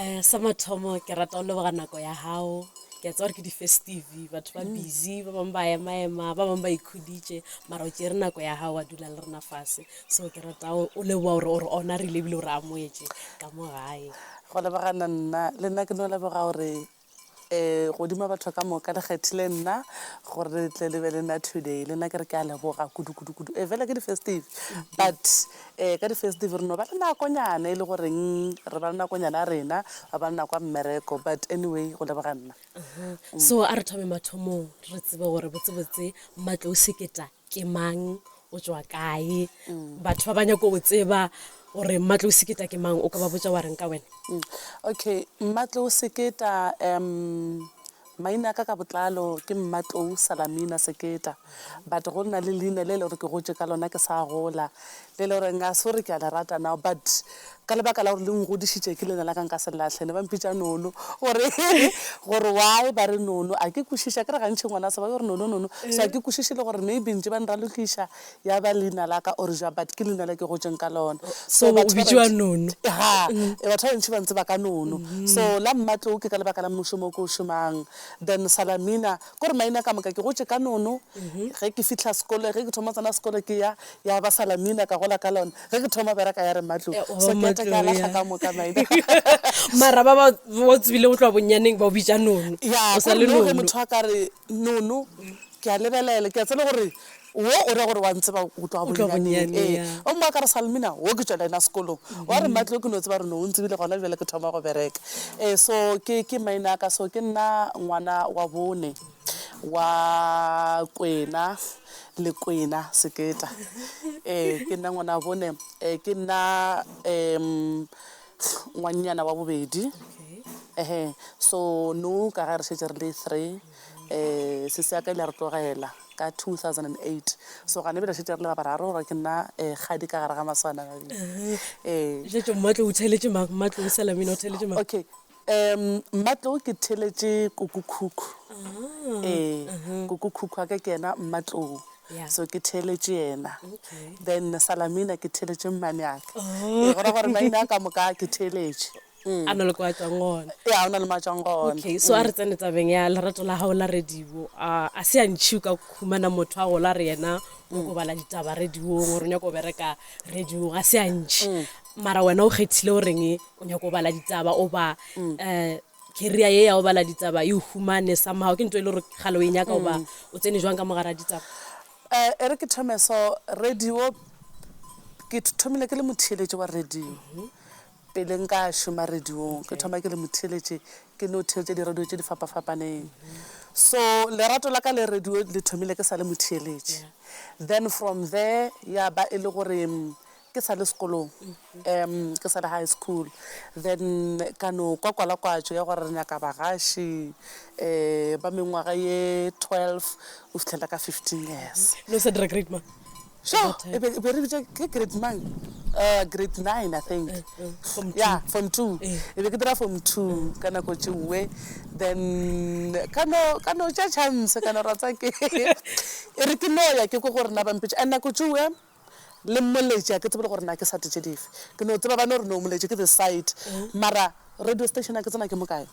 Eh, sa mathomo ke rata go leboga nako ya gago ke a tsa gore ke di-festive batho ba busy ba bangwe ba emaema ba bangwe ba ikhuditše mara o tšere nako ya gago wa dula le rena fase so ke rata o o leboga gore o re ona rile ebile o re amoetše ka mo gae go lebogana nna le nna ke no leboga gore Ee, godimo batho ka moka le kgethile nna gore le tle le be le nna today le nna ke re ke a leboga kudukudukudu ee eh, fela ke di-festive but um ka di-festive re no ba le nakonyana e le goreng re ba le nakonyana ya rena ba ba le nako ya mmereko but anyway go leboga nna so a re thome mathomong re tsebe gore botsebotse matlo o seketa ke mang o tswa kae mm. batho ba ba nyako go tseba gore mmatlo o seketa ke mang o ka ba botsa wa reng ka wena mm. okay mmatlo o seketa um maina ka ka botlalo ke mmatlou salamina seketa but go nna le leina le le gore ke gotse ka lona ke sa gola le le gore nka se gore ke a le rata now but ka lebaka la gore le ngodišitše ke lena la ka nka se lahle ne ba mpitša nono gore gore why ba re nono a ke kwešiša ke re gantšhi ngwana se ba yo re nono nono so a ke kwešiše le gore maybe ntše ba nralokiša ya ba leina la ka or ja but ke leina le ke gotseng ka lona so batho ba bantši ba ntse ba ka nono so la mmatlou ke ka lebaka la mmušo mo ke o šomang then salamina kore maina ka moka ke gotše ka nono ge ke fihla sekolo ge ke thoma tsena sekolo ke ya ya ba salamina ka gola ka lona ge ke thoma bereka ya re matlo eh, so ke tle ka lahla ka moka maina mara ba ba o tsebile go tloa bonnyaneng ba o bitša nono ya o sa le nono ge motho a ka re nono ke a lebelela ke a tsela gore Wo o ra gore wa ntseba go tloga bonyaneng. Ee. Gomme wa ka re, Salmina, wo ke tšwa le yena sekolong. Wa re, Mmatli, wo ke no tseba gore ne o ntsebile gona bjale ke thoma go bereka. Ee, so ke, ke maina a ka. So ke nna ngwana wa bone wa Kwena le Kwena Seketa. Ee, ke nna ngwana wa bone. Ee, ke nna um ngwannyana wa bobedi. Ehe. So nou ka ge re šetše re le three. um sese ya ka ile ya re tlogela ka 2008 so gane bjela šetše re le ba bararo gore ke nna um kgadi ka gare ga maswana ee šetše mmatlo o theletše mang mmatlo o salamina o theletše mang okay um mmatlo ke theletše kokokhukhu ah, ee kokokhukhu a ka ke ena mmatloo so ke theletše yena then salamina ke theletše mmane aka oh. e gora gore maina a ka moka ke theletše a na le kwa tswang gona ya o na le mo a tswang gona okay so a re tsene tabeng ya lerato la gago la radio a a se a ntšhi o ka khumana motho a gola re yena o ko bala ditaba radiong gore o nyako o bereka radio ga se a ntšhi mara wena o kgethile o reng o nyako o bala ditaba o ba um career ye ya o bala ditaba e o humane somehow ke nto e le gore gale o e nyaka o ba o tsene jwang ka mogara ditaba um e re ke thome so radio ke thomile ke le motheeletši wa radio Pele nka šoma radiong, ke thoma ke le motheeletši, ke no theetša diradio tše di fapa-fapaneng. So, lerato la ka le radio le thomile ke sa le motheeletši. Then from there, ya ba e le gore ke sa le sekolong, ke sa le high school, then ka no kwa kwalakwatšo ya gore re nyaka bagaši ba mengwaga ye twelve go fihlela ka fifteen years. No sa dira grade mang? Sho, At that e be e be re bitša ke grade mang uh, grade nine i think Eh, eh, form two. yeah form two Eh. e be ke dira form two ka nako tšewe then ka no ka no tša chance ka no rata ke e re ke noya ke ko gore na bampitša and nako tšewe le mmoletše a ke tsebele gore na ke sate tše dife ke no tseba ba no re no moletše ke the site mara radio station a ke tsena ke mokae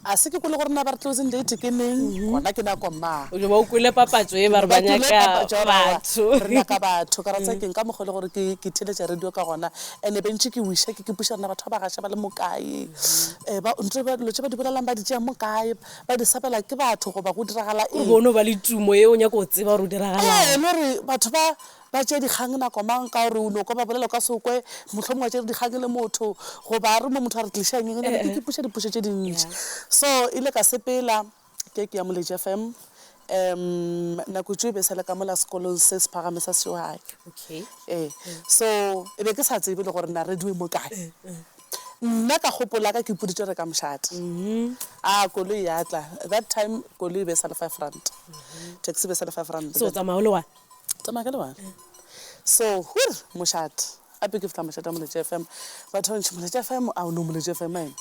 a se ke kwele gore na ba re closing date ke neng mm-hmm. gona ke nako ma o ba o kwele papatso e ba re ba nyaka batho re nyaka batho ka ratsa mm. keng ka mokgwa le gore ke ke theletša radio ka gona ene bentše ke wisha ke ke puša rena batho ba ba gasha ba le mokae mm-hmm. eh, ba ntse ba dilo tse ba di bolelang ba di tšea mokae ba di sabela ke batho goba go diragala eng bono ba le tumo e o nyaka go tseba gore o diragala eh, e le gore batho ba ba tšee dikgang nako mang ka gore o no kwa ba bolela o ka se o kwe mohlomongwe wa tšere dikgang le motho goba a re mo motho a re tliša nyengenyana ke kipuša dipušo tše dintši so e ile ka sepela ke ke ya moleje fm um nako tšeo e be e sa le ka mola sekolong se se phagame sa seohai ee so e be ke sa tsebe le gore na radio e mo kae nna ka gopola ka ke puditše re ka mošate a koloi ya tla that time koloi e be e sa le five rand taxi e be e sa le five rand so tsamaya o le one Tsamaya ka lebala. So, hur, mošat. Ape ke fla mošata moletše FM. Batho ba bantši moletše FM, a o no moletše FM eno.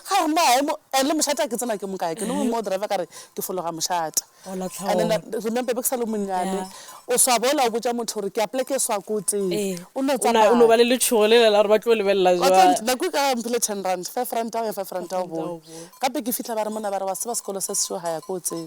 Ga re mba emo, and le mošata ke tsena ke mo kae. Ke no mo driver ka re ke fologa mošata. O la tlhaola. And then remember be ke sa le monnyane. Yeah. O swa bola o botša motho gore ke a pleke swa ko teng. Ee. O no tsamaya. O no ba le letšhogo le le la gore ba tlo lebelela jwang. Wa tseba nako e ka mphile ten rand, five rand ao ya five rand ao bone. Gape ke fihla ba re mona ba re wa tseba sekolo se sešo ga ya ko tsebe.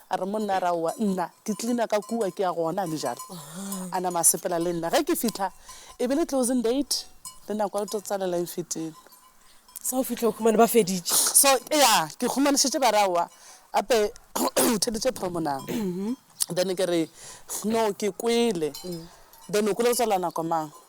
A re, Monna ra owa, nna ke cleaner ka kua, ke ya gona, a le jalo. A nama a sepela le nna. Ge ke fihla, e be le closing date, le nako ya go tlo tsalela e nfetile. Sa o fihla o humane ba feditše. So, ya, ke humanišitše ba re, Aowa, gape o theditše promo na? Then ke re, No, ke kwele. Then o kwele go tswalela nako mang?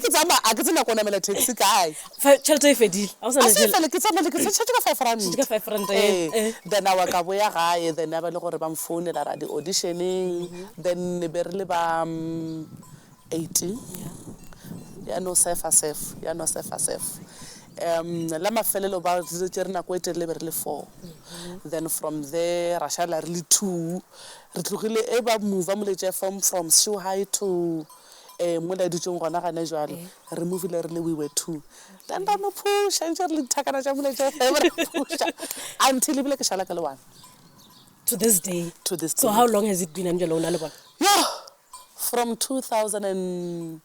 ke tsamaya a ke tsena ko namela taxi kae tšhelete e fedile a sa e fele ke tsamaya ke tšhelete ka five rand ka five rand eh, eh. then awa ka boya gae then a ba le gore ba mfounela ra di auditioneng mm-hmm. then ne be re le ba mm, eighteen ya no sefa sef ya no sefa sef um la mafelelo ba tse re nako e telele be re le four mm-hmm. then from there ra šala re le two Re tlogile e ba mova moletša from from Shuhai to eh mo la dutšeng gona gane jwale re movile re le we were two then ra no phusha ntše re le dithakana tša moletša FM re phusha until ebile ke šala ke le one to this day to this so day how long has it been amjalo una le bona yo from 2006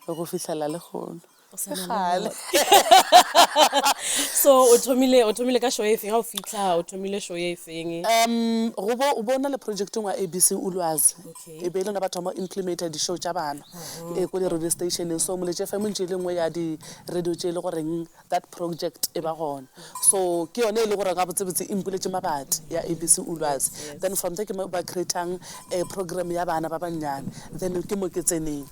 go fihlela le gono Ke gale. so o thomile o thomile ka show e feng ga o fitlha o thomile show e feng um go bo o bona le projecteng wa abc ulwazi Okay. e be e le lona ba thoma implementa di-show tša bana e ko di-radio stationeng so moletše fm ntše e le nngwe ya di-radio tše e le goreng that project e ba gona So ke yone e le gore gabotsebotse e mpuletše mabati ya ABC Ulwazi. Then from there ke mo ba creatang eh, program ya bana ba bannyane. Then ke mo ke tseneng.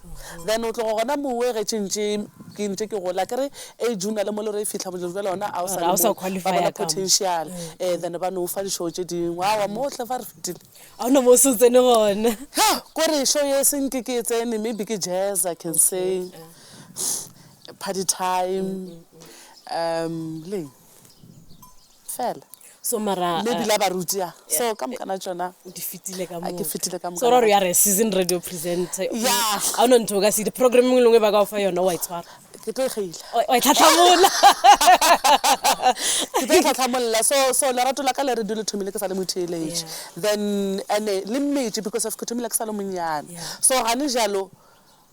Then o tloga gona mowe ge tšentše ke ntše ke gola ke re age o na le mo le gore e fihla bojelo jale gona a o sa Ga o le sa mo ba qualify-a bona ka mo. potential. Eh, then ba no o fa dišoo tše dingwe awa mohle fa re fetile. a o no mo o se o tsene gona Ha, kore show ye seng ke ke e tsene maybe ke jazz i can say Party time, um, le eng? Fela. So mara mme bila ba ruti ya. So ka mokana tsona o di fitile ka mo. Ke fitile ka mo. So re ya re season radio presenter. Ya. A no ntho ka se di program e lengwe ba ka fa yona wa itshwara. Ke tlo khaila. Wa itlhatlhamola. Ke tlo itlhatlhamola. So so la rato la ka le re dule thomile ke sa le mothelege. Then ene le mmeje because of ke thomile ke sa le monyane. So ga ne jalo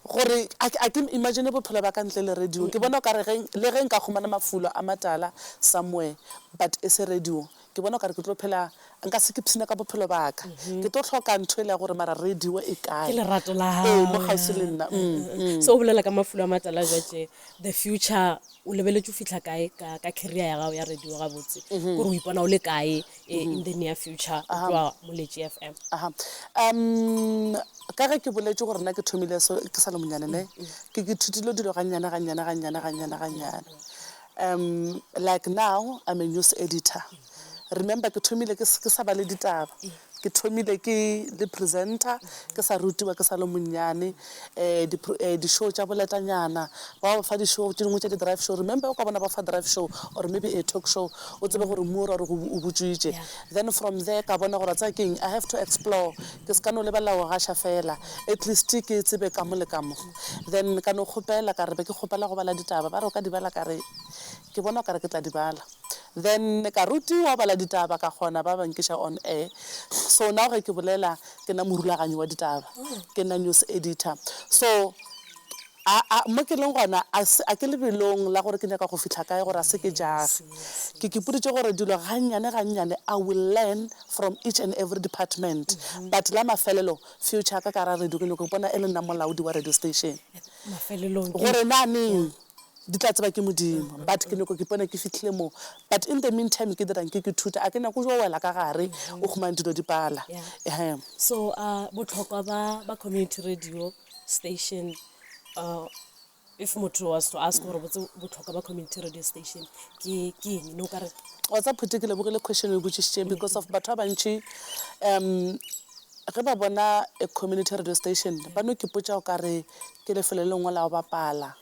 gore a ke a ke imagine bophelo ba ka ntle le radio ke bona o ka re ge le ge nka khumana mafulo a matala somewhere but e se radio ke bona o ka re ke tlo phela nka se ke pshina ka bophelo ba ka ke tlo hloka ntho e le ya gore mara radio e kae ke lerato la hao ee mo kgauswi le nna so o bolela ka mafulo a matala jwa tje The Future, o lebeletše o fihla kae ka, ka career ya gago ya radio gabotse kore o ipona o le kae eh, in the near future o tloa moletši fm Aha. Um, ka ge ke boletše gore nna ke thomile so ke sa le monyane ne ke ke thutile dilo gannyane gannyane gannyane gannyane gannyane um like now i'm a news editor remember ke thomile ke s- ke sa ba le ditaba Ke thomile ke le presenter ke sa rutiwa ke sa le monnyane um di show tša boletanyana ba ba fa di show tše dingwe tša di drive show remember o ka bona ba fa drive show or maybe a talk show o tsebe gore mmu o ra gore o butšwitše then from there ka bona gore a tsaya keng I have to explore ke se ka no lebelela go gaša fela at least ke tsebe ka mo le ka mo then ka no kgopela ka re be ke kgopela go bala ditaba ba re o ka di bala ka re ke bona o ka re ke tla di bala then ka rutiwa go bala ditaba ka kgona ba ba nkiša on air so now ge ke bolela ke na morulaganyi wa ditaba ke na news editor so a a mo ke leng gona a se a ke lebelong la gore ke nyaka go fihla kae gore a se ke jage ke ke puditse gore dilo ga nnyane ga nnyane i will learn from each and every department but la mafelelo future ka ka ra radio ke nyaka go bona e le nna molaodi wa radio station mafelelong gore na neng Di tla tseba ke Modimo. But ke nyoko ke ipona ke fihlile mo. But in the mean time ke dirang ke ke thuta. A ke nyako jo wela ka gare o khumane dilo di pala. Yeah. Ehe. So a botlhokwa ba ba community radio station uh, if motho was to ask gore botse botlhokwa ba community radio station ke ke eng ne o ka re wa tsa phuti ke lebogile question o e botsišitšeng because of batho ba bantši um Ge ba bona a community radio station ba no ke potša o ka re ke lefelo le lengwe la go bapala,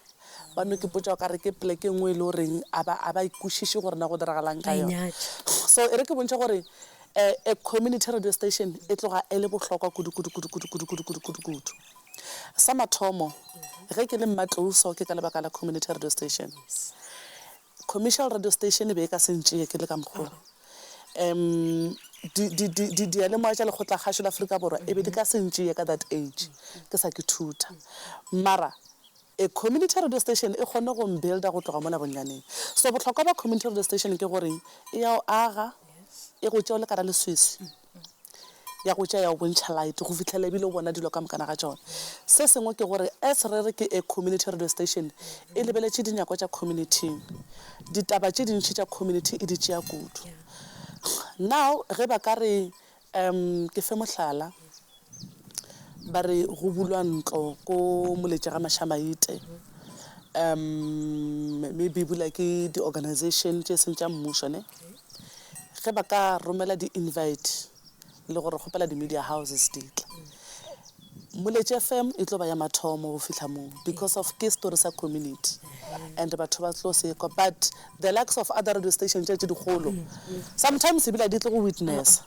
ba no ke potša o ka re ke poleke e nngwe e le goreng a ba a ba e kwešiše gore na go diragalang ka yona. So e re ke bontšha gore a community radio station e tloga e le bohlokwa kudu kudu kudu kudu kudu kudu kudu kudu kudu. Sa mathomo ge ke le Mmatlouso ke ka lebaka la community radio station. Commercial radio station e be e ka se ntšee ke le ka mokgwa wo. Um, di, di, di, di, diyalemoya tša lekgotlakgašo la Afrika Borwa e be di ka se ntšee ka that age, ke sa ke thuta. Mara, a community radio station e kgonne go mbuilder go tloga mola bonnyaneng. So bohlokwa bja community radio station ke goreng, e ya o aga, e go tšea o le ka ra leswiswi. ya go tšea ya go bontšha light go fihlela e bile o bona dilo ka mokana ga tšona. Se sengwe ke gore as re re ke a community radio station, e lebeletše dinyakwa tša community-ing. Ditaba tše dintši tša community e di tšea kudu. Now ge ba ka re, um ke fe mohlala, ba re go bulwa ntlo ko Moletšegamašamaite, um maybe e bula ke di-organization tše e seng tša mmušo ne, ge ba ka romela di invite le gore kgopela di media houses di tla moletše fm e tlo ba ya mathomo go fihla moo because of ke story sa community and batho ba tlo sekwa but the likes of other radio station tše tše dikgolo sometimes ebile di tlo go witnessa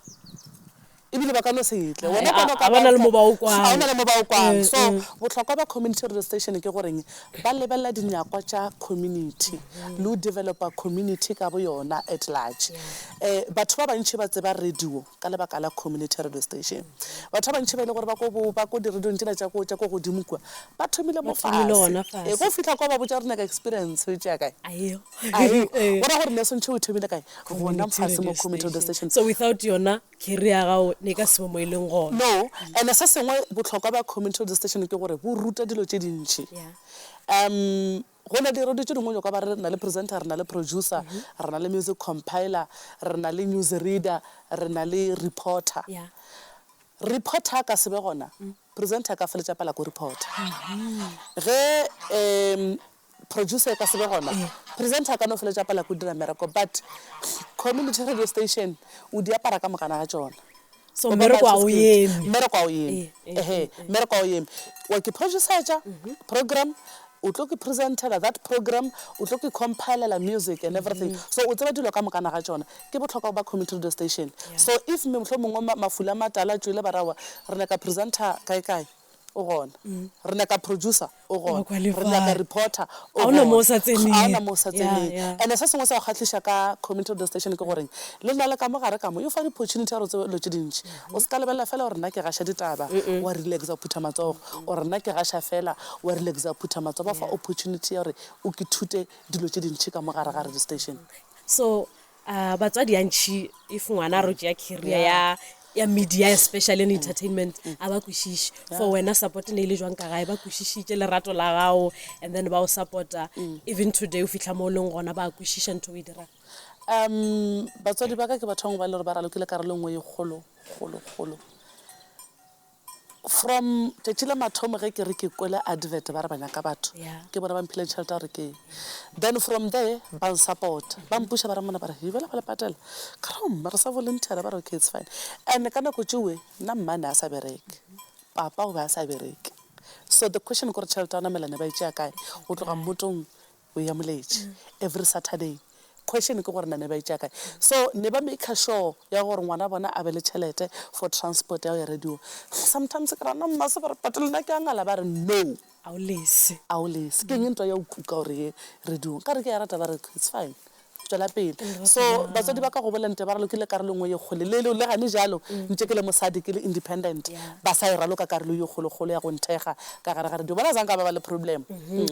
ebile ba ka no se tle wena ka no ka bona le mo ba o kwang ga ona le mo ba o kwang so botlhokwa ba community radio station ke goreng ba lebella dinyakwa tša community le o developer community ka bo yona at large eh batho ba bantši ba tseba radio ka lebaka la community radio station batho ba bantši ba ile gore ba ko ba ko di radio tšela tša ko tša ko godimo kwa ba thomile mo fase e go fihla kwa ba botsa gore naka experience o tšea kae ayo ayo gore ne sentšhe o thomile kae gona fase mo community radio station so without yona Ke rea gago ne ka sebe mo e leng gona. No, and se sengwe bohlokwa ba community radio station ke gore bo ruta dilo tše dintši. Um go na di radio tše dingwe jwalo ka re na le presenter, re na le producer, re na le music compiler, re na le news reader, re na le reporter. Reporter a ka sebe gona, presenter a ka feletša pala ko reporter. Ge um producer e ka se be gona presenter a ka no feletša pala ko dira mereko but community radio station o di apara ka mogana ga tšona So, Go ba mmereko ga o matshiskedi. eme. mmereko ga o eme Eh, eh, ehe eh, eh. mmereko ga o eme wa ke producertša program o tlo ke presentela that program o tlo ke compilela music and everything so o tseba dilo ka mokana ga tšona ke bohlokwa go ba community radio station so if me mohlomongwe ma- mafula matala tšwele barawa re nyaka presenter kae kae o gona. Re nyaka producer, o gona. Re nyaka reporter, o gona. Ga o na mo o sa tseneng. And-e se sengwe sa go kgahliša ka Community Radio Station ke goreng le na le ka mo gare ka mo e go fa di-opportunity ya gore o tsebe dilo tše dintši. O se ka lebelela fela gore nna ke gaša ditaba, wa relax-a, wa phutha matsogo, or nna ke gaša fela, wa relax-a, wa phutha matsogo. Ba go fa opportunity ya gore o ke thute dilo tše dintši ka mo gare ga radio station. So Uh, batswadi antšhi if ngwana a ro tšea career ya ya media especially in entertainment mm. a ba kwešiše for wena support ne e le jwang ka gae ba kwešišitše lerato la gago and then ba o supporta mm. even today o fitlha mo o leng gona ba kwešiša ntho o e dirang um batswadi ba ka ke batho bangwe ba le gore ba ralokile karolo nngwe e kgolo kgolo kgolo From tšatši la mathomo ge ke re ke kwele advert ba re ba nyaka batho Yeah. ke bona ba mphile tšhelete ya gore ke then from there ba nsupporta ba mpuša ba re mona ba re yubela ba le patela ka re mme re sa volunteera ba re okay it's fine and ka nako tšewe nna mma ne a sa bereke papa o be a sa bereke so the question ke gore tšhelete ya ona melane ba e tšea kae go tloga mmotong o ya moletše every saturday question ke gore na ne ba itšea kae so ne ba maker sure ya gore ngwana bona a be le tšhelete for transport ya go ya radio sometimes ke rana mma se gore but lena ke a ngala ba re no a o lese a o lese ke eng ntwa ya o kuka gore ye radio ka re ke ya rata ba re it's fine tšwela pele so batswadi ba ka go bolela nte ba ralokile karolo engwe ye kgole le le gane jalo ntše ke le mosadi ke le independent ba sa e raloka karolo ye kgolokgolo ya go nthekga ka gare ga radio bona zanka ba ba le problem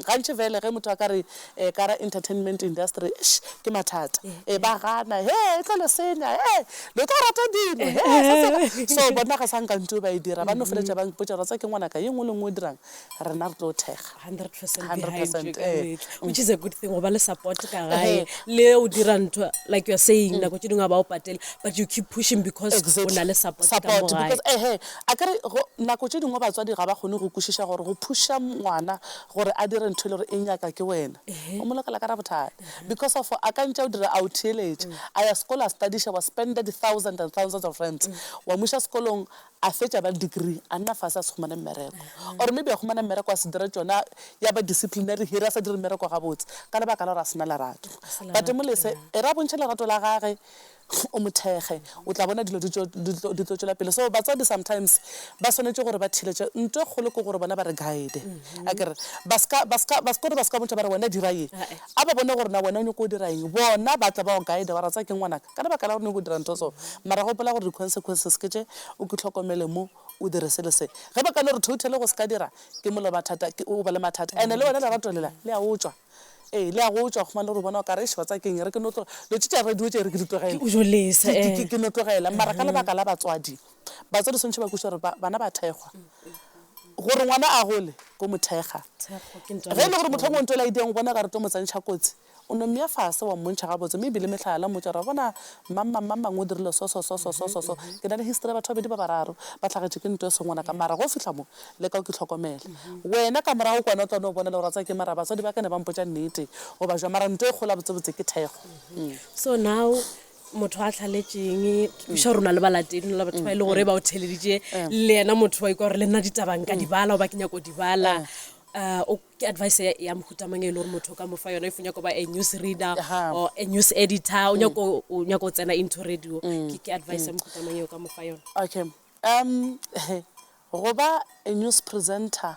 gantši fele ge motho a ka re um ka ra entertainment industry eish ke mathata um ba gana he e tlo le senya he lo tlo rata dino he so bona ga sa nka ntio ba e dira ba no feletša ba mpotša ra tsa ke ngwanaka ye nngwe le nngwe o dirang rena re tlo thekga 100% eh. which is a good thing go ba le support ka gae le o dira ntho like you're saying nako tse dingwe a ba o patele but you keep pushing because o na le support ka mo gae because ehe a kere go- nako tše dingwe batswadi ga ba kgone go kwešiša gore go phuša ngwana gore a dire ntho e le gore e nyaka ke wena o mo lokela ka ra bothata because of a ka ntša o dira a o theeletša a ya sekolo a studiša wa spenda di-thousand and thousands of rands wa muša sekolong a fetša ba le degree a nna fase a se humane mmereko or maybe a humana mmereko a se dira tšona ya ba disciplinary hire a sa dire mmereko gabotse ka lebaka la gore a se na lerato but molese e re a bontšhe lerato la gage o mo thekge o tla bona dilo di tlo tšwela pele so batswadi sometimes ba swanetše gore ba thiletše nto e kgolo ke gore bona ba re guide a kere ba ska gore ba ska bontšha ba re wena dira ye A ba bone gore na wena o nyoko go dira eng. Bona ba tla ba go guide ba re, Tsaya keng ngwanaka? Ka lebaka la gore o nyoko go dira ntho so. Mara gopola gore di-consequences ke tše, o ke hlokomele mo, o dire se le se. Ge ba ka no re totally go se ka dira, ke mole ba thata, o ba le mathata. And-e le wena lerato lela, le a otšwa. Ee, le a go otšwa, o khumane gore o bona o kare, eish, wa tsaya keng e re ke no tlo, dilo tše tša radio tše e re ke di tlogele. Ke o jolisa, ee. Ke no tlogela. Mara ka lebaka la batswadi. Batswadi swantšhe ba kwešiša gore ba, bana ba thekgwa. Gore ngwana a gole, bo mo thekga. Ge e le gore mohlomongwe ntwele a idiang o bona ekare o tlo mo tsentšha kotsi, o no mmea fase wa mmontšha gabotse, mme ebile mehlala la mmotša gore, wa bona, mmamma, mmamma ngo o dirile so, so, so, so, so, so, so. Ke na le history ya batho ba babedi ba bararo ba hlagetšwe ke ntwa e se ngwanaka. Mara ge o fihla mo, leka o ke hlokomele. Wena ka morago kwana o tla no bona le gore wa tseba ke eng, mara batswadi ba ka ne ba mpotša nnete, o ba jwa. Mara ntwa e kgolo gabotsebotse ke thekgo. So now, motho a tlhaletšeng ša rona le balatedi la batho ba e le gore ba o theleditše le yena motho wa ikwa gore le nna ditabang ka di bala goba ke nyako di bala um o- ke advice ya- ya mohutamang e le gore motho o ka mo fa yona if o nyako ba a news reader Aha. or a news editor o nyako o nyako o tsena into radio ke ke advice ya mohutamang e o ka mo fa yona okay um go ba a news presenter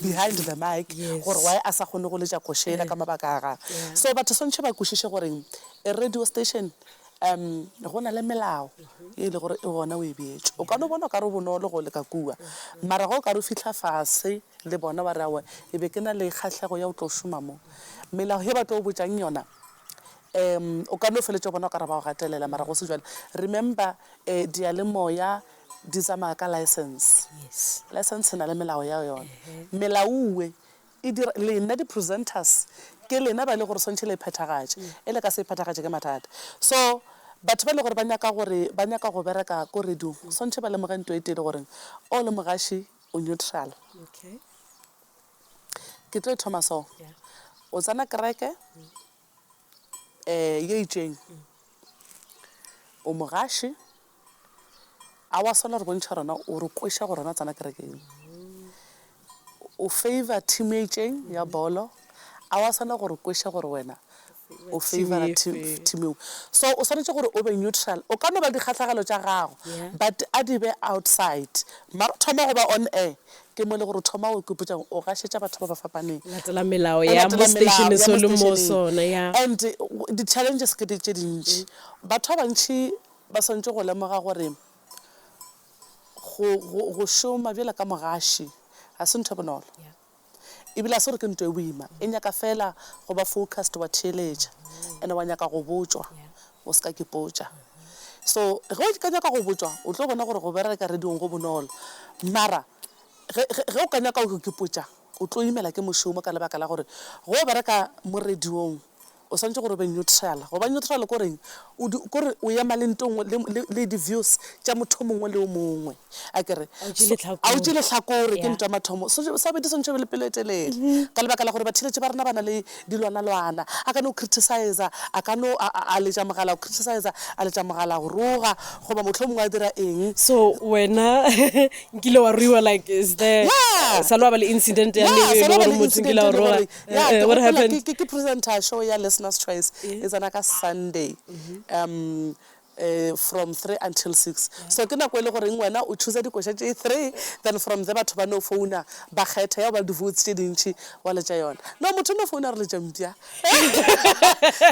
behind the mic gore why a sa kgone go letša koša yela ka mabaka a gagwe. So batho swantšhe ba kwešiše gore a radio station um go na le melao e le gore e gona o e beetše. O ka no bona o ka re go bonolo go leka kua mara ge o ka re o fihla fase le bona wa re aowa ke be ke na le kgahlego ya go tlo šoma mo. Melao ye ba tlo go botšang yona um o ka no feletša o bona o ka re ba go gatelela mara go se bjalo. Remember um diyalemoya Di tsamaya ka license. Yes. License e na le melao ya yona. Melaue e dira lena di presenters ke lena ba le gore swantšhe le e phethagatše. E le ka se e phethagatše ke mathata. So batho ba le gore ba nyaka gore ba nyaka go bereka ko radio-ng swantšhe ba lemoge nto e tee le goreng o le mogaši o neutral. Okay. Ke tlo e thoma so. Yeah. O tsena kereke. um yo itšeng o mogaši a wa swana re bontšha rona o re kweša gore rona tsena kerekeng o favor team e itšeng ya bolo a wa swana gore kweša gore wena o favora team eo so o swanetše gore o be neutral o ka no ba dikgahlagelo tša gago but a di be outside mara thoma go ba on air Ke mo e le gore o thoma go ikopetša go gašetša batho ba ba fapaneng. Latela melao ya mo seteišeneng so le mo sona, ya. And di-challenges ke tše dintši. Batho ba bantši ba swanetše go lemoga gore go šoma bjalo ka mogaši ga se ntho e bonolo. Ebile ga se gore ke ntwa e boima. E nyaka feela go ba focused, wa theeletša, and wa nyaka go botšwa O se ka ke potša. So ge o ka nyaka go botšwa o tlo bona gore go bereka radiong go bonolo. Mara ge, ge, ge o ka nyaka go ke potša o tlo imela ke mošomo ka lebaka la gore ge o bereka mo radiong o swanetše gore o be neutral. Go ba neutral ke goreng? O di, ke gore o ema le nto e nngwe, le, le, le di-views tša motho o mongwe le o mongwe. a ke re a o tše lehlakore ke ntwa mathomo sa bedi swantšhe be le pelo e telele mm-hmm. ka lebaka la gore batheletše ba rena ba na le dilwanalwana a ka no criticiza a ka no a letša mogala go criticiza a letša mogala go roga goba motlho mongwe a dira eng so wena nkile wa ruiwa like is there sa lo ba le incident ya le motho nkile wa roga eh, eh, what happened ke presenter show ya listeners choice e tsena ka sunday mm-hmm. um from three until six so ke nako e le goreng wena o choosa dikoša tše three then from there batho ba no founa ba kgetha ya go ba le di-votes tše dintši wa letša yona no motho o no founa re letša mpša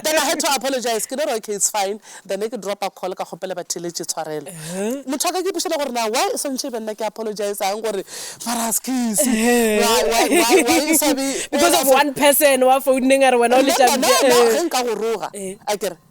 then i had to apologize ke no re okay it's fine then e ke dropa call ka kgopela batheeletše tshwarelo uh-huh. motho a ka ke ipušela gore na why e swantšhe e be nna ke apologize ang gore mara skese because of one person wa founeng a re wena o letša mpša eh. ge nka go roga eh. a kere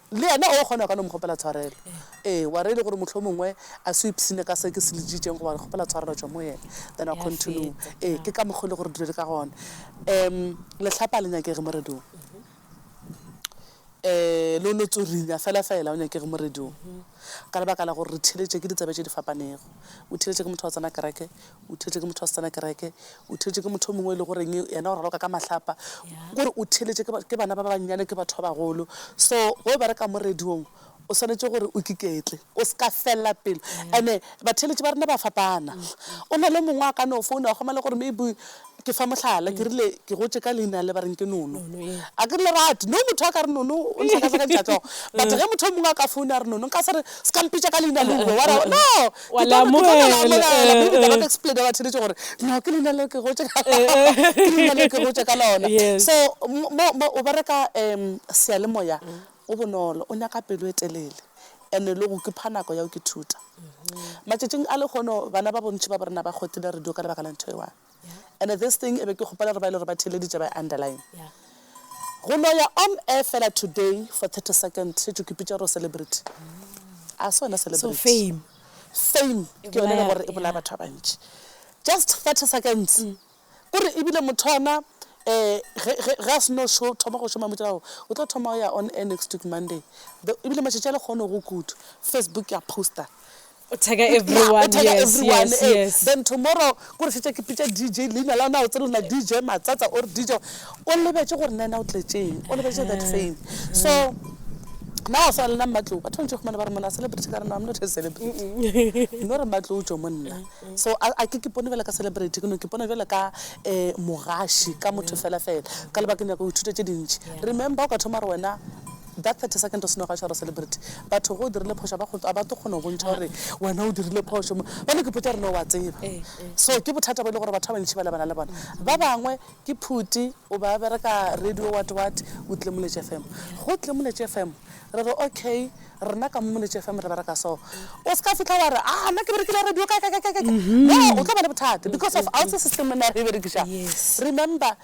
Le yena o kgona go ka no mo kgopela tshwarelo. Ee, wa re e le gore mohlomongwe a se o ipshine ka se ke se le ditšeng goba re kgopela tshwarelo tšwa mo yena, then wa continue. Ee, ke ka mokgwa o le gore dilo di ka gona. Um Lehlapa ga le nyakege mo radiong. Um lo lo tsorinya fela fela, o nyakege mo radiong. Ka lebaka la gore re theeletše ke ditsebe tše di fapanego. O theeletše ke motho wa tsena kereke, o theletše ke motho wa setsana kereke o theletše ke motho o mongwe e le goreng yena o raloka ka mahlapa gore o theletše ke bana ba ba bannyane ke batho ba bagolo so go ba re ka mo radiong o swanetše gore o kiketle o se ka felela pelo ande batheletše ba rena ba fapana mm. o na le mongwe a ka no founa goma le gore maybe Ke fa mohlala, ke rile ke gotše ka leina le ba reng ke Nono. Nono, ee. A ke lerate. No motho a ka re Nono o nhlakafakantšha hlogo. But ge motho o mongwe a ka foune a re Nono, nka se re, se ka mpitša ka leina leo, o be wa ra, no! Wa Ke tlo le mo- ke tlo le amogela. amogela. Mme ebile ba ka explainer ba theletše gore, no, ke leina leo ke gotše ka, ke leina leo ke gotše ka lona. Yes. So, mo, mo, mo o bereka um seyalemoya go bonolo, o nyaka pelo e telele and-e le go kipha nako ya go ithuta. Matšatšing a lekgono bana ba bontši ba bo rena ba kgotile radio ka lebaka la ntho e one. and this thing e be ke kgopela gore ba ile gore ba theeleditše ba underline go no ya on air fela today for 30 second e tšo kipitša gore o celebrity a se wena celebrity fame fame ke yone le gore e bolaya batho ba bantši just 30 seconds mm. kore ebile motho ana um ga se no sho thoma go šoma motšelago o tlo thoma go ya on air next week monday ebile matšatši a le kgone go kudu facebook ya poster O tag a everyone, yes, yes, yes. Eh, then tomorrow, ko re fetša ke pitša DJ, leina la ona o tsere lena DJ Matsatsa or DJ. O lebetše gore na ena o tletšeng, o lebetše that eh, fame. Eh. So, na o swana le na mmatlou batho bantši gomane ba re mona celebrity ka re no am not a celebrity no re mmatlou jo monna so a ke ke pone bjale ka celebrity ke no ke pone bjale ka um mogaši ka motho fela fela ka lebakeng ya go ithuta tše dintšhi remember o ka thoma re wena That 30 second o seno ga tshwara celebrity batho ge o dirile phošo a ba go a ba tlo kgona go bontšha gore wena o dirile phošo mo ba no ke potsa gore no wa tseba so ke bothata bo e le gore batho ba bantši ba lebana le bona ba bangwe ke phuti o ba bereka radio what what o tle moletše fm go tle moletše fm re re okay rena ka mo moletše fm re bereka so o se ka fihla wa re ah nna ke berekile radio ka ka ka ka ka no o tlo ba le bothata because of a o tse system na re e berekiša remember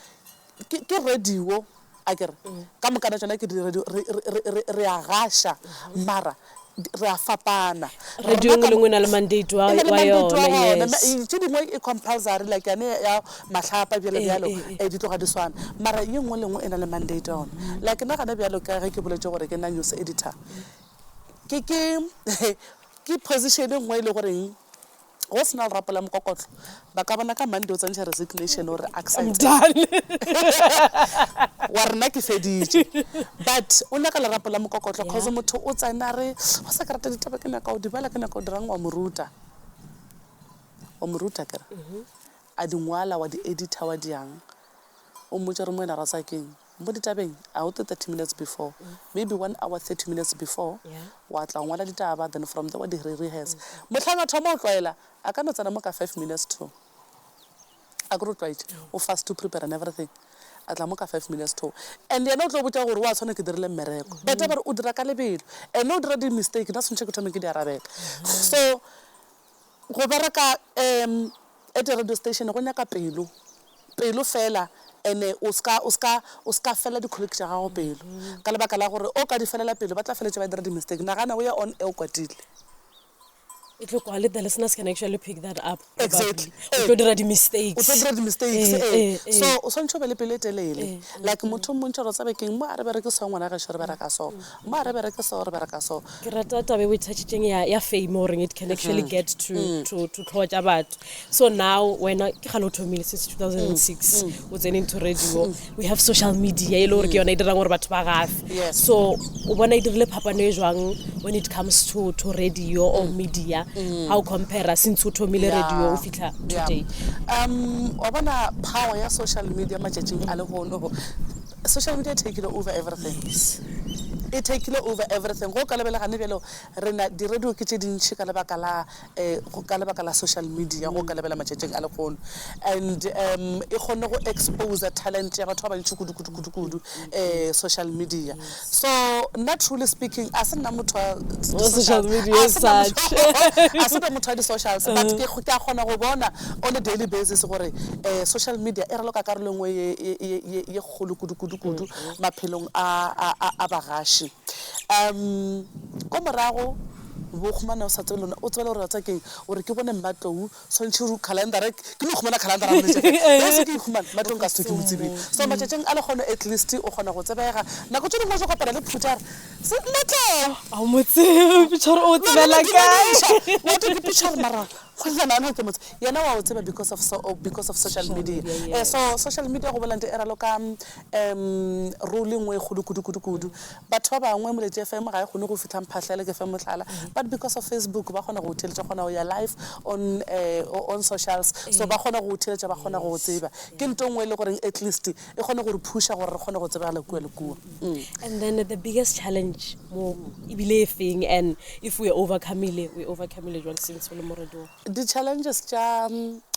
Ke, ke radio a ke re. Ka moka tša tšona ke di radio, re, re, re, re, re a gaša, mara di, re a fapana. Radio e nngwe le e nngwe e na le mandate wa, e na le wa mandate wa yona, gona. yes. E, tše dingwe e compulsory, like yane ya mahlapa bjalo, E, bjalo, e, e. e di tloga di swana. Mara ye nngwe le nngwe e na le mandate wa yona. Like nna gona bjalo ka ge ke boletše gore ke nna news editor, ke, ke, ke position e nngwe e le goreng, Go se na go rapela mokokotlo. Ba ka bona ka Monday o tsentšha resignation o re, Ak sa etsa. Wa re nna ke feditše. But o nyaka lerapo la mokokotlo cause motho o tsena a re, Wa sa ke rata ditaba ke nyaka go di bala, ke nyaka go dira'ng? Wa mo ruta. Wa mo ruta ke re. A di ngwala, wa di edita, wa di'ang. O mmotša o re, Moena ra tsaya ke'ng? Mo ditabeng, a o tle thirty minutes before, maybe one hour thirty minutes before, wa tla wa ngwala ditaba, then from there wa di re-rehearse. Mohlang a thoma go tlwaela, a ka no tsena mo ka five minutes to. Akere o tlwaetše, o fast to prepare and everything, a tla mo ka five minutes to. And yena o tlo botša gore wa tshwana ke dirile mmereko. Beta ba re o dira ka lebelo, ene o dira di-mistake, nna swantšhe ke thome ke di arabela. So. Go bereka um at a radio station go nyaka pelo, pelo fela and o ska o ska o ska fela di colleague tša gago pelo ka lebaka la gore o ka di felela pelo ba tla feletša ba dira di mistake. Nagana o ya on air o kwatile. E tlo kwale the listeners can actually pick that up Exactly ee. O tlo dira di mistakes. O tlo dira di mistakes ee, ee, ee. So o swantšhe o be le pelo e telele like motho o mmontšha gore o tsebe keng mo a re bereke so ngwana gešo re bereka so. Mma re bereke so, re bereka so. Ke rata taba e o e thatšitšeng ya, ya fame o reng it can actually mm-hmm. get to, mm. to, to tlhogo tša batho so now wena ke gale o thomile since 2006 mm. mm. o tsene into radio we have social media e le gore ke yona e dirang gore batho ba gafe so o bona e dirile phapano e jwang when it comes to, to radio or mm. media mm. how compare since o thomile radio o fitlha today um wa bona power ya social media matšatšing a legono Social media e takile over everything. E takile over everything. Go ka lebela gane bjalo re na di radio ke tše dintši ka lebaka la um ka lebaka la social media go ka lebela matšatšing a lekgono and um e kgonne go exposer talent ya batho ba bantši kudu kudu kudu kudu um social media. So nna truly speaking a se nna motho wa Wa social media as such. a se be motho wa di-socials but ke ke a kgona go bona on a daily basis gore um social media e raloka karolo e nngwe ye- ye- ye ye- ye kgolo kudu-kudu-kudu maphelong a a- a- a bagaši um ko morago bo khumane o sa tsebe lona o tsebela gore tsa keng o re ke bone mmatlou Swantšho ru khalendara ke no khumana khalendara mo letšatši re se ke ikhumana matlong ka setho ke mo tsebile so matšatšing a lekgono at least o kgona go tsebega nako tše dingwe o tlo kopana le phuta re se nna tleng a mo tsebe pichar o tsebela kae wa tlo ke pichar mara kgonyana ana ke motse yena wa o tseba because of so because of social media eh so social media go bola nte e ralo ka um role nngwe e kgolo kudu kudu kudu Batho ba bangwe Muleti FM ga e kgone go fihla mphahla ya Leke FM mohlala, but because of Facebook ba kgona go go theeletša, o kgona go ya live on uh on socials, so ba kgona go go theeletša, ba kgona go go tseba. Ke nto nngwe e le goreng at least e kgone go re phusha gore re kgone go tsebagala kua le kua. And then the biggest challenge mo e bile e feng and if we overcomile, we overcomile jwang since o le mo radio? Di-challenges tša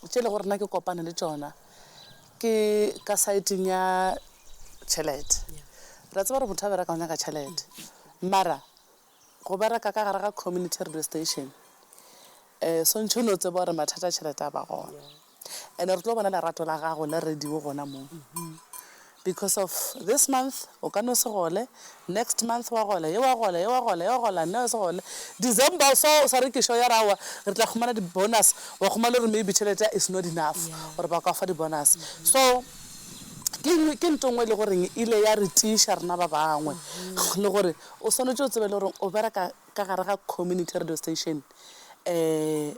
tše le gore nna ke kopane le tšona, Ke ka saeteng ya tšhelete. Re a tseba gore motho a bereka o nyaka tšhelete. Mara go bereka ka gare ga community radio station um swantšhe o no tseba gore mathata a tšhelete a ba gona. And-e re tlo bona lerato la gago le radio gona moo. Because of this month o ka no se gole, next month wa gola, ye wa gola, ye wa gola, ye wa gola, nna se gole. December o swa o sa rekiša o ya re aowa re tla khumana di bonus, wa khumana le gore maybe tšhelete ya is not enough gore ba ka fa di bonus. So ke ke nto ngwe e le goreng e ile ya re tiiša rena ba bangwe le gore o swanetše o tsebe le gore o bereka ka gare ga community radio station um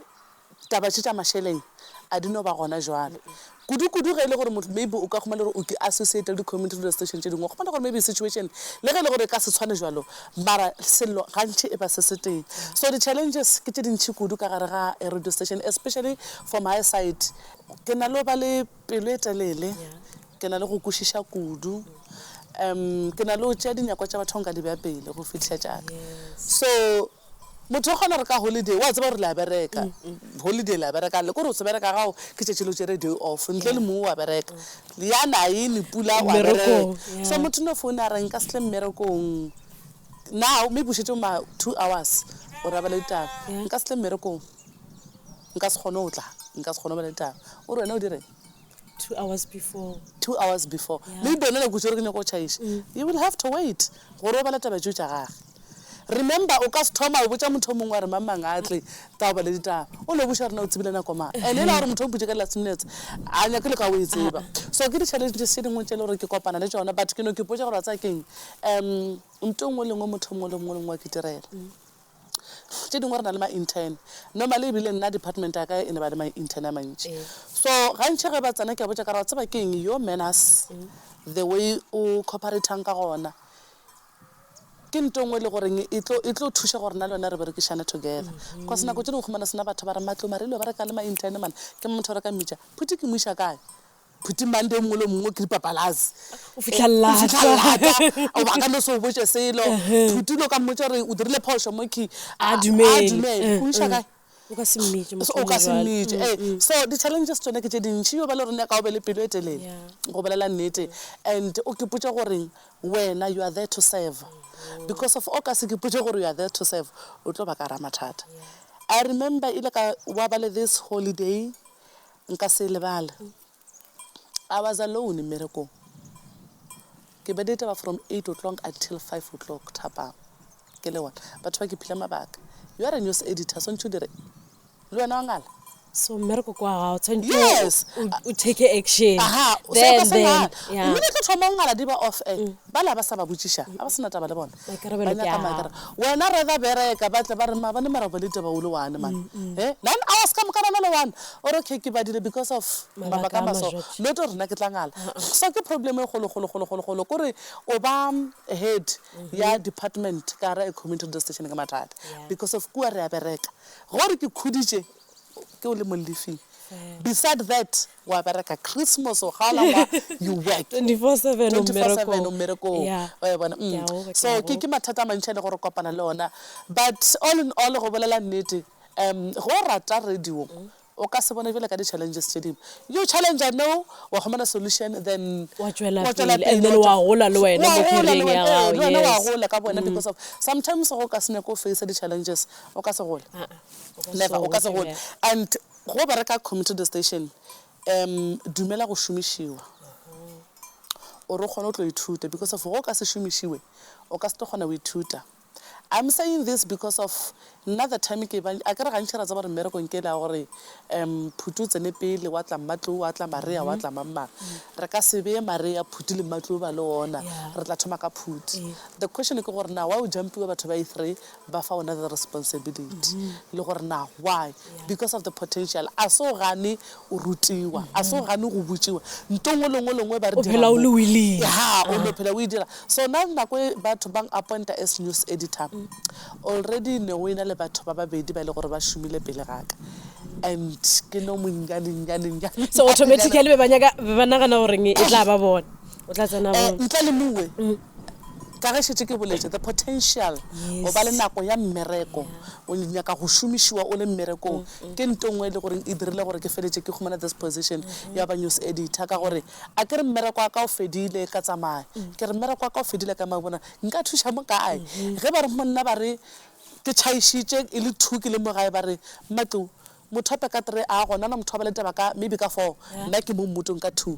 Taba tše tša mašeleng a di no ba gona bjale, kudu-kudu ge e le gore motho maybe o ka khumana gore o ke associate le di-community radio station tše dingwe. O khumana gore maybe situation le ge e le gore e ka se tshwane bjalo mara sello gantši e ba se se tee. So di-challenges ke tše dintši kudu ka gare ga radio station especially for my side. Ke na le go ba le pelo e telele, ke na le go kwešiša kudu, um ke na le go tšea dinyakwa tša batho nka di bea pele go fihla tša ka. So Motho o kgona gore ka holiday wa tseba gore le a bereka holiday le a bereka le kore o se bereka gago ke tšatši le o tšere day off ntle le mong wa bereka yana ene pula wa bereka Mmerekong, yeah. so motho no foune a re nka se tle mmerekong now maybe o šetše ma two hours o rabala ditaba Yeah. nka se tle mmerekong nka se kgone go tla nka se kgone go bala ditaba o re wena o direng two hours before two hours before Yeah. maybe wena nako tšere ke nyako go tšhaiša you will have to wait gore o bala taba tšeo tša gage Remember o ka se thoma o botša motho o mongwe wa re mang mang a tle tao bale ditaba o no buša rena o tsebile nako mang and e la gore motho o butše ka last minutes a nyake le ka o e tseba so ke di challenges tše dingwe tše le gore ke kopana le tšona but ke no ke potša gore wa tsaya keng um nto nngwe lengwe motho mongwe le mongwe le mongwe wa ke direla tše dingwe re na le ma-intern normally ebile nna department ya ka e ne ba le ma-intern a mantši eh. so gantšhi ge ba tsena ke a botša ka ra tseba ke eng yo manners mm. the way o cooperating ka gona Ke nto engwe ele goreng e tlo, e tlo thuša gore na le wena re berekišane together. Cos nako tše dingwe humana sena batho ba re matlo mare ele ba reka le ma intern man. Ke motho o reka mmitša, Phuti ke mo iša kae? Phuti Monday o mongwe le o mongwe o kiripa palase. O fihla lata. O fihla lata. O ba ka no se o botše selo. Phuti o ile o ka mmotša gore o dirile phošo mo key. A dumele. A dumele. Ke o iša kae? O ka se mmitše motho o ka se mmitše ee mm, mm. so di-challenges tsone ke tše dintšhi yo ba le rone ka o be le pelo e telele go bolela nnete and o kepotše goreng wena you are there to serve because of o ka se kepotše gore you are there to serve o tlo ba ka ra mathata i remember ile ka wa ba le this holiday nka se lebale I was alone mmerekong. Ke beditaba from eight o'clock until five o'clock thapama. Ke le one. Batho ba ke phile mabaka. You are a news editor, swantšhe o dire. Le wena wa ngala. So mmereko kwa gago tshwanetse Yes. o take action. Aha, o se Then ka se then ngala. yeah. Mme ke tlo thoma o ngala di ba off air. Ba la ba sa ba botšiša. A ba se na taba le bona. Maikarabelo ke a gago. Wena rather bereka ba tle ba re maabane mara ba le taba o le one man he nine hours ka moka bana le one o re okay ke badile because of mabaka a maso not o rena ke tla ngala so ke problem e golo golo golo golo golo ko re o ba head ya department ka ra e community radio station ke mathata because of kua re a bereka gore ke khuditše ke o le mo lifing beside that wa bereka christmas o kgaola ngwa you work 24 seven o 24/7 o mmerekong mmerekong Yeah. wa e bona Ke a o- mm. ke so a ke o- ke mathata a mantšhi a le gore kopana le ona but all in all go bolela nnete um go o rata radio o ka se bone bjale ka di-challenges tše dingwe you challenge no wa humana solution then Wa tšwela wa tšwela pele, and then wa wa tšwa- gola le wena wa mo gola le career-eng ya wena, ee, gago, le wena wa yes. gola ka bona because of sometimes go ka se nyako face di-challenges o ka se gole Ah, ah, o ka never o ka se se gole bjale. and Go bereka community radio station um dumela go šomišiwa gore o kgone go tlo ithuta because of go ka se šomišiwe o ka se tlo kgona go ithuta. I'm saying this because of nna the time ke ba a ke re gantši ra tseba gore mmerekong ke la gore um Phuti o tsene pele wa tla Mmatlou wa tla Maria wa tla mang mang re ka se beye Maria Phuti le Mmatlou ba le ona re tla thoma ka Phuti. The question ke gore na why o jumpiwa batho ba i three ba fa ona the responsibility le gore na why because of the potential a se o gane o rutiwa a se o gane go botšiwa nto ngwe lengwe lengwe ba re phela o le willing ha o no phela o e dira so na nako e batho bang appointa as news editor already ne o ena le batho ba babedi ba le gore ba šomile pele ga ka and ke no monnyane nyane nyane so automatically ba nyaka ba nagana gore e tla ba bona o tla tsena bona eh, ntle le mongwe mm. Ka ge šetše ke boletše, the potential, go ba le nako ya mmereko, o nyaka go šomišiwa o le mmerekong, ke nto nngwe e le goreng e dirile gore ke feletše ke humana this position ya ba news editor. Ka gore a ke re mmereko wa ka o fedile, ka tsamaya. Ke re mmereko wa ka o fedile, ka tsamaya, bona nka thuša mo kae? Ge ba re mo nna, ba re ke tšhaišitše e le two ke le mo gae, ba re, Mmatliu, motho wa peka three a gona na, motho wa ba le taba ka maybe ka four, nna ke mo mmotong ka two.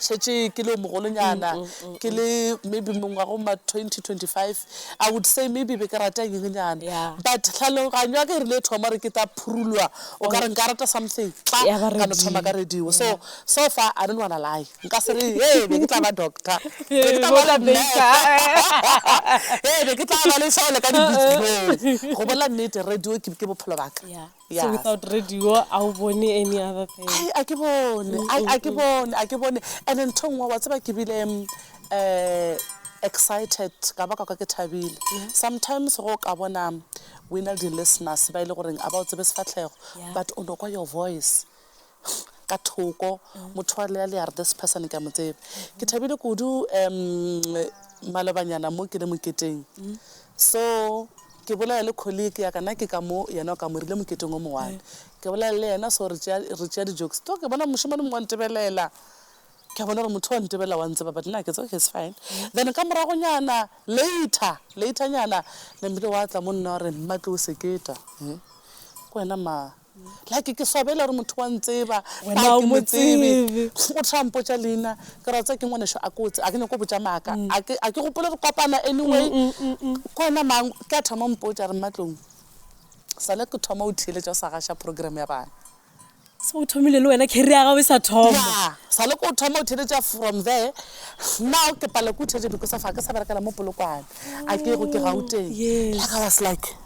šetše ke le o mogolonyana mm, mm, mm, ke le maybe mengwago ma 2025 i would say maybe be ke rata nyengenyana yeah. but tlhaloganyo ya ka e rile thoma re ke ta phurulwa o oh. ka re nka rata something tla ka no thoma ka radio so yeah. so far i don't wanna lie nka se re e be ke tla ba doctor be ke tla ba le e be ke tla ba le sole ka dibitsi go bolela nnete radio ke bophelo baka yeah. So yeah. without radio, a o bone any other thing? Ai, a ke bone Ai, a ke bone a ke bone and then nthong wa tseba ke bile um excited ka ba ka kwa ke thabile sometimes go ka bona we na le di-listeners ba e le goreng a ba o tsebe sefatlhego Yeah. but o no kwa your voice ka thoko motho wa lea leare this person ke a mo tseba ke thabile kudu um malobanyana mo ke le moketeng so ke bolela le colleague ya kana ke ka mo yena o ka mo rile moketeng o mongwane ke bolela le yena so re tšea di-jokes to ke bona mošemane mongwe wa ntebelela ke a bona gore motho wa ntebela wa ntseba but nna ke tse okay it's fine then ka moragonyana later laternyana nambile wa tla mo nna wa re mmatle o seketa ke wena ma Like ke swabela gore motho wa ntseba Wena fa o ke mo mo tsebe tsebe. o tla mpotša leina ke ra tsa ke ngwaneso a kotse a ke nyako botša maaka a ke a ke gopole re kopana anyway ke wena mang ke a thoma mpotša re mmatlong sale ke thoma o theeletša o sa gaša program ya bana So o thomile le wena career ya gago e sa thoma. ya sale ke o thoma o theeletša from there now ke pala ke o theeletša because of a ke sa berekela mo polokwane a ke go ke gauteng Yes. like i was like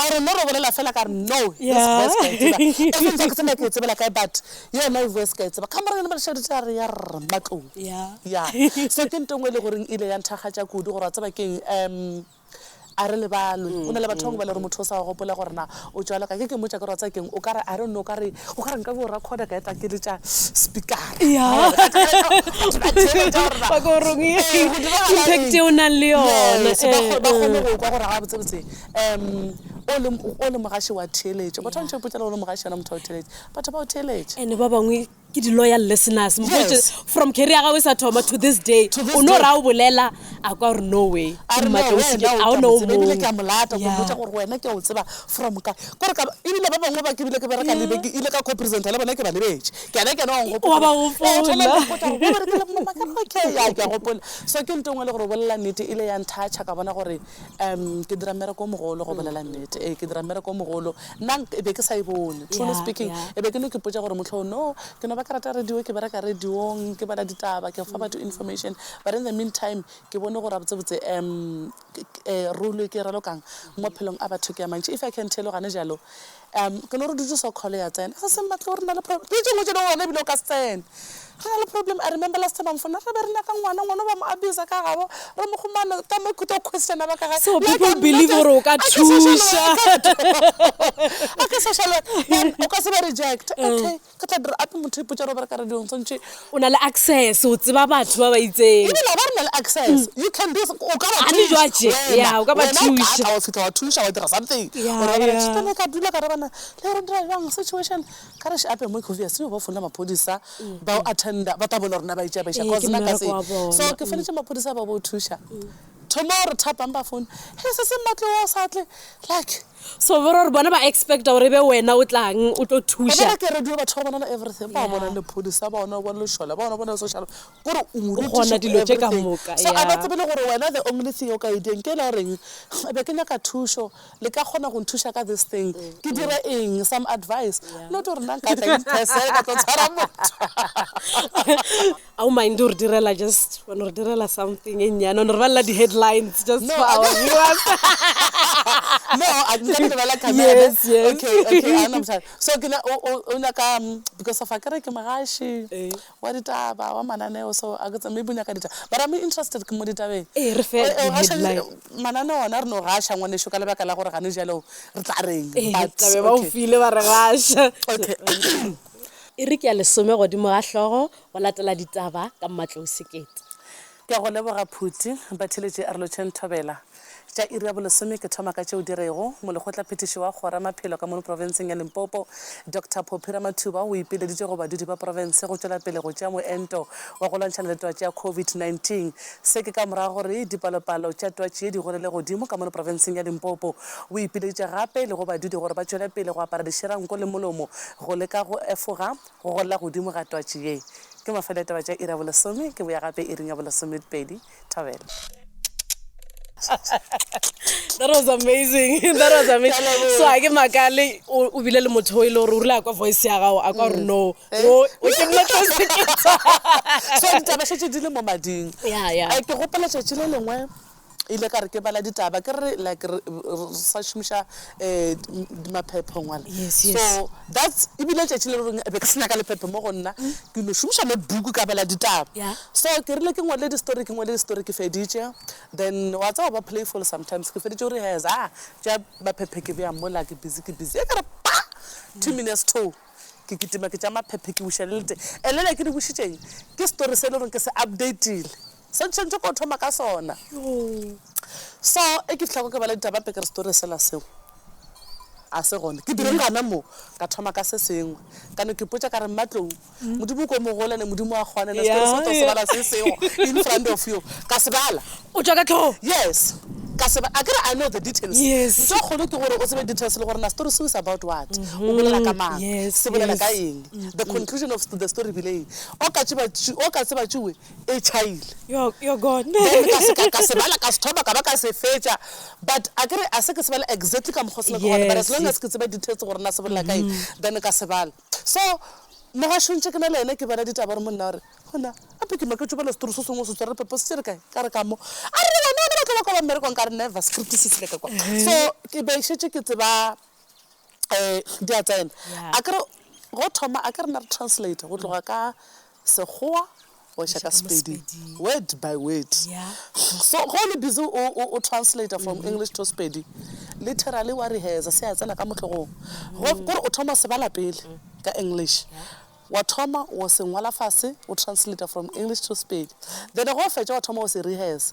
A re no re bolela fela ka re no yes voice ka e tseba e feng sa ke tsena ke e tsebela kae but yena e voice ka e tseba ka mora yona madišedi tša re ya rr matlong ya so ke ntengwe le goreng ile ya nthakgatša kudu gore a tseba ke eng um a re lebalwe o na le batho bangwe ba le gore motho o sa gopola gore na o tšwalo ka ke ke mmotsa ka gore wa tsaya keng o kare a re nno o kare o kare nka bo recorda ka etla ke le tša speakera o nang le yone ba kgone go kwa gore ga botsebotse um o le, o le mogaši wa theeletšo batho ba ntšhe ipotsela o le mogaši yona motho wa theeletše batho ba o theeletše ene ba bangwe ke di-loyal listeners yes. from carry ya gago e sa thoma to this day o no ra o bolela a kwa gore no way ebile ke a molata ko botsa gore wena ke o tseba from ka kore ka ebile ba bangwe ba ke bile ke bereka lebe ke ile ka co-presenta le bona ke ba lebetše ke ena ke ena okay ya ke a gopola so ke nto ngwe le gore o bolela nnete ile ya nthacha ka bona gore um ke dira mmereko o mogolo go bolela nnete ee ke dira mmereko o mogolo nna e be ke sa e bone truly Yeah, speaking yeah. e be ke no ke potsa gore motlho no ke no ba ke rata radio ke bereka radiong ke bala ditaba ke fa batho information but in the meantime ke bone gore botsebotse um role e ke e ralokang mo phelong a batho ke ya mantši if i can tell gane jalo Um, ke no re dutše so call ya tsena. Ga se mmatle o re na le problem. Ke tšengwe tšeno gona ebile o ka se tsene. Re na le problem. I remember last time I'm phone. Re be re nyaka ngwana, ngwana ba mo abuse ka gabo. Re mo gomana ka mo ke to question ba ka ga. So people believe gore o ka thuša. A ke social worker. O ka se ba reject. Okay. Re tla dira ape motho ipotša re bereka radio nswantšhe. O na le access o tseba batho ba ba itseng. E bile a ba re na le access you can do o ka ba thuša wena wena o ka ba thuša wena o fihla wa thuša wa dira something o re ba thuša ne ka dula ka re bana le re dira jang situation ka re ape mo ke obvious yo ba founela maphodisa ba attenda ba tla bona rena ba itša ba iša cause na ka se so ke fonetse maphodisa ba bo thuša tomorrow thapang ba phone he se se mmatle wa sa tle like So bo rore bona ba expecta gore be wena o tlang o tlo thuša. Ebere ke radio batho ba bona le everything ba bona le police ba bona o bona le shola ba bona bona social gore o mo rutisa dilo tše ka moka. So a ba tsebe le gore wena the only thing o ka e diyang ke la goreng be ke nyaka thušo le ka kgona go nthuša ka this thing ke dire eng some advice not gore nna nka tla in person ka tlo tshwara motho. a o mind o re direla just o re direla something e nnyane o ne re balela di-headlines just no, for our viewers no a ke sa lebala camera yes, yes. okay okay a na mosadi so ke na o nyaka mm, because of a kere ke mogashi eh. wa ditaba wa mananeo so a ke maybe o nyaka ditaba but i'm interested ke mo ditabeng eh re fe headline mananeo ona re no gasha ngwane sho ka lebaka la gore ga ne jalo re tla reng eh, but okay ba o file ba re gasha okay E re ke ya lesome godimo ga hlogo go latela ditaba ka Mmatlou Sekete. Ke a go leboga Phuti. Batheeletši a re lotšheng thobela tša iri ya bolesome. Ke thoma ka tšeo di rego, Molekgotlaphethiši wa Kgoro ya Maphelo ka mono profenseng ya Limpopo, Doctor Phophi Ramathuba o ipileditše go badudi ba profense go tšwela pele go tšea moento wa go lwantšhana le twatši ya COVID-19. Se ke ka morago gore dipalopalo tša twatši ye di gonele godimo ka mono profenseng ya Limpopo. O ipileditše gape le go badudi gore ba tšwele pele go apara dišeranko le molomo go leka go efoga go golela godimo ga twatši ye. Ke mafelo a ditaba tša iri ya bolesome. Ke boya gape iring ya bolesomepedi. Thobela. That was amazing. That was amazing. So ha ke makale o bile le motho o ile gore o rile a kwa voice ya gago a kwa gore no. Eh? Wo, o ke nna tlo seketsa. so ditaba šetse di le mo mading Ya, ya. Eh, ke gopela tšatši le lengwe ile ka re ke bala ditaba ke re like re re- re sa šomiša um maphepho ngwana Yes, yes. so that's ebile tšatši le reng be ke se nyaka lephephe mo go nna ke no šomiša le buku ka bala ditaba Mm. Yeah. so ke rile ke ngwale di-story ke ngwale di-story ke feditše then wa tseba ba playful sometimes ke feditše gore has a tša maphephe ke beya mola ke busy ke busy e ka re pa two minutes two Ke kitima ke tša maphephe ke buša le lete. Elele ke di bušitšeng? Ke story se e le gore ke se update-ile. Se ntšhwentšhe ko thoma ka sona. So e ke fihla ko ke bala ditaba mpe ke re story sela seo a se gona. Ke direng gana mo? Ka thoma ka se sengwe. Ka no ke potša ka re Mmatlou, Modimo ko mogole ne Modimo a kgona ene story se o tlo se bala se seo in front of you. Ka se bala. O tšwa ka tlhogo? Yes. Ka tseba, akere I know the details. Yes. Ntho e kgolo ke gore o tsebe details le gore na story seo is about what. O bolela ka mang? Yes, yes. Se bolela ka eng? The conclusion of the story e bile eng? O ka tseba, o ka tseba tšue e tšhaile. You're, you're gone. Then ka se, ka, ka se bala, ka se thoma, ka ba ka se fetša. But akere a se ke se bala exactly ka mokgwa o se nyakago go bala, but as long as ke tseba details gore na se bolela ka eng, then ka se bala. So, mogašontši ke na le yena ke bala ditaba gore monna o re, Gona, gape ke maketšwe bjale setori se sengwe o se tswerere phepo se re kae? Ka re, Ka mo. A re, Wena, wena batla ba kwa ba mmerekong? Ka re, Never, script se tsebja ka kwa. So, ke be šetše ke tseba um di a tsena. A ke re, Go thoma, a ke re na re translate go tloga ka Sekgowa go eša ka Sepedi word by word. So ge o le busy o, o, o translator from English to Sepedi, literally wa rehearsa, se a tsena ka mohlogong. Go, kore o thoma se bala pele ka English. Wa thoma wa se ngwala fase, o translator from English to Sepedi. Then ge o fetša wa thoma wa se rehearsa.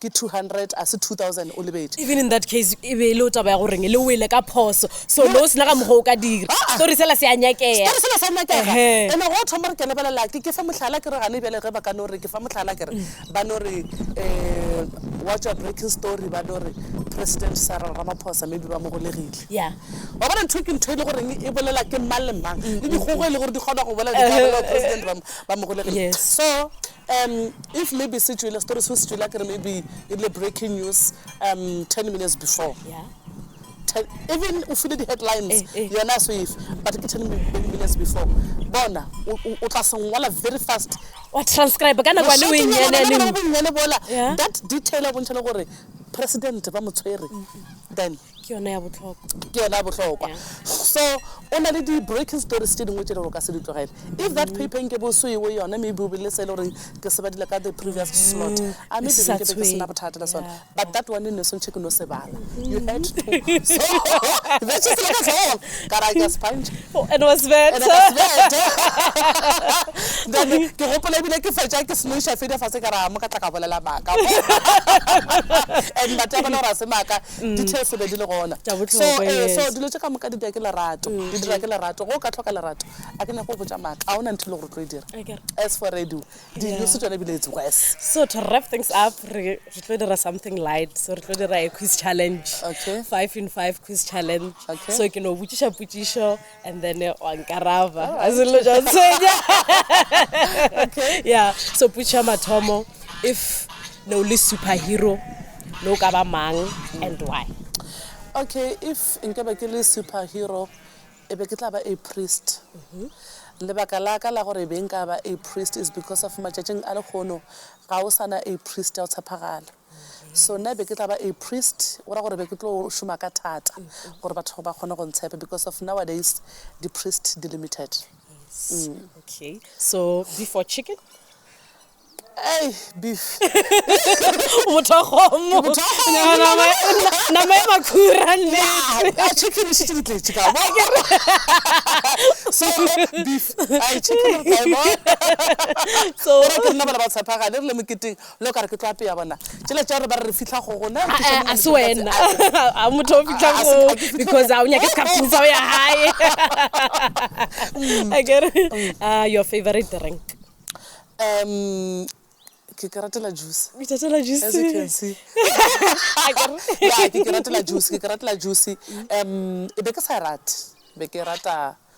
Ke two hundred a se two thousand o lebetše. Even in that case e be e leo taba ya go reng le wele ka phoso so le o sena ka mokgwa o ka dira Aa. story sela se a nyakega. Story sela sa nyakega Ehee. and go thoma re ke lebelela ke ke fe mohlala ke re gane bjale ge ba ka no re ke fa mohlala ke re ba no re um wa tšwa breaking story ba no re president Cyril Ramaphosa maybe ba mo golegile. Yeah. Wa bona ntho ke ntho e le go reng e bolela ke mang le mang le dikgogo e le gore di kgona go bolela di ka bolela president ba mo ba mo golegile Yes. so Um if maybe se tšwile story se se tšwile a kere maybe e rile breaking news um ten minutes before yeah. ten, even o file di-headlines eh, eh. yona a soefe but ke ten minutes before bona o tla sengwala very fast wa transcribe ka nakwane o enyanyaneng bola that detail o bontšha le gore president ba mo tshwere then ke yona ya bohlokwa ke yona ya bohlokwa so o na le di-breaking stories tse dingwe tse le gore o ka se di tlogele if that paper nke bo se ewe yone maybe o be le se e le goreng ke se badile ka the previous slot mm, a maybe ke be ke sena bothata le sone but that one ne swantšhe ke no se bala you had to so that is like as all ka ra ka sponge oh, and was bad and was bad then ke gopola ebile ke fetša ke snoisha fede fa se ka ra mo ka tla ka bolela maka and batho ba bona gore a se maka Details e be di le gona. Tša bohlokwa, yes. So, ee, so dilo tše ka moka di dira ke lerato. Di dira ke lerato. Ge o ka hloka lerato, a ke nyake go botša maaka, ga o na ntho e le gore o tlo e dira. Akere. As for radio, di-news tšone ebile it's worse. So to wrap things up, re re tlo dira something light. So re tlo dira a quiz challenge. Okay. Five in five quiz challenge. Okay. So ke no botšiša potšišo, and then eh, wa nkaraba a selelo ja ntshwenya ya so putšha mathomo if ne o le superhero ne o ka ba mang and why okay if nke be ke le superhero e be ke tla ba a priest mhm. lebaka la ka la gore e be nka ba a priest is because of matšatšing a lekgono ga o sana a priest ya o tshepagala So nna be ke tla ba a priest, go ra gore be ke tlo šoma ka thata gore batho ba kgone go ntshepa because of nowadays di priest di limited. Okay. So beef or chicken? Ey, beef. Motho wa kgomo. Ke motho wa kgomo. Ya, nama e- na- nama e makhura nne Ah, ah, chicken e šetše di tletše ka mo. So beef, ai chicken re tla e bona. So- Gore ke rena bana ba tshepagale re le moketeng Nna o ka re ke tlo apea bona tšela tša gore ba re re fihla go gona ke šoma a se wena a motho o fihla go because a o nyake sekhafting sa o ya gae a kere a your favorite drink um ke ke ratela juice o tatela as you can juice see ya ke ke ratela juice ke ke ratela juice um e be ke sa e rate be ke rata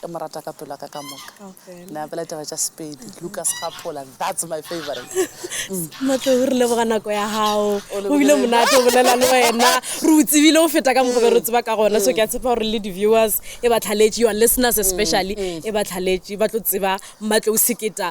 ke mo rata ka pelo ya ka ka moka ne a pela taba tša sepedi lucas gapola that's my favorite matle o re leboga nako ya gago o bile monate o bolela le wena re o tsebile o feta ka mogobe re tseba ka gona so ke a tshepa gore le di-viewers e ba tlhaletše your listeners especially e ba tlhaletše ba tlo tseba matle o seketa